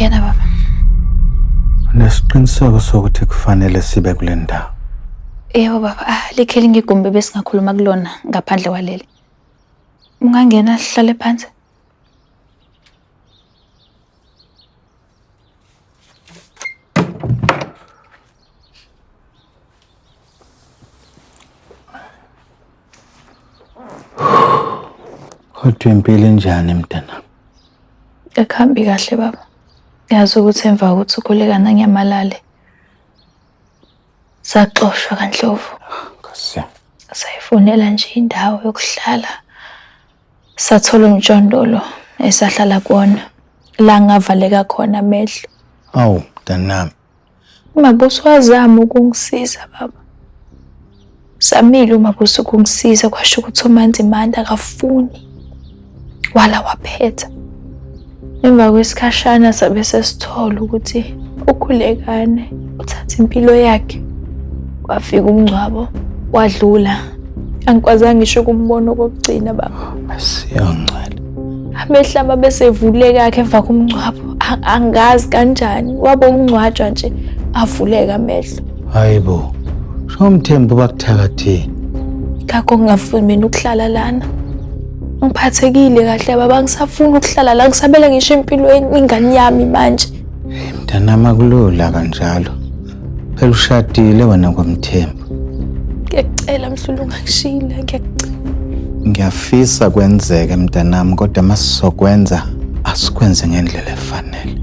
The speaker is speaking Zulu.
Ngena baba. Nesiqiniseko sokuthi kufanele sibe kule ndawo. Yebo baba, ah likhe lingigumbe besingakhuluma kulona ngaphandle kwaleli. Ungangena hlale phansi. Kodwa impilo injani mntanami? Akuhambi kahle baba. Yazi ukuthi emva kokuthi ukhulekana ngiyamalale. Saxoshwa kanhlovu. Nkosi yami. Sayifunela nje indawo yokuhlala. Sathola umjondolo esahlala kuwona la ngavaleka khona amehlo. Awu mntanami, Umabuso wazama ukungisiza baba. Samile umabuso ukungisiza kwasho ukuthi uManzi Manda akafuni. Wala waphetha. Emva kwesikhashana sabe sesithola ukuthi ukhulekane uthatha impilo yakhe. Kwafika umngcwabo wadlula. Angikwazanga ngisho ukumbona okokugcina baba. Siyangcela. amehla uma besevuleka akhe emva komngcwabo angazi kanjani wabe ukungcwatshwa nje avuleka amehlo hayi bo shomthembu bakuthakatheni ngakho ngingafuni mina ukuhlala lana ngiphathekile kahle baba ngisafuna ukuhlala la ngisabele ngisho empilweni ingane yami manje mntanami akulula kanjalo Phela ushadile wena kwaMthembu. Ngiyacela mhlulu ungangishiyile ngiyacela. Ngiyafisa kwenzeke mntanami kodwa masizokwenza asikwenze ngendlela efanele.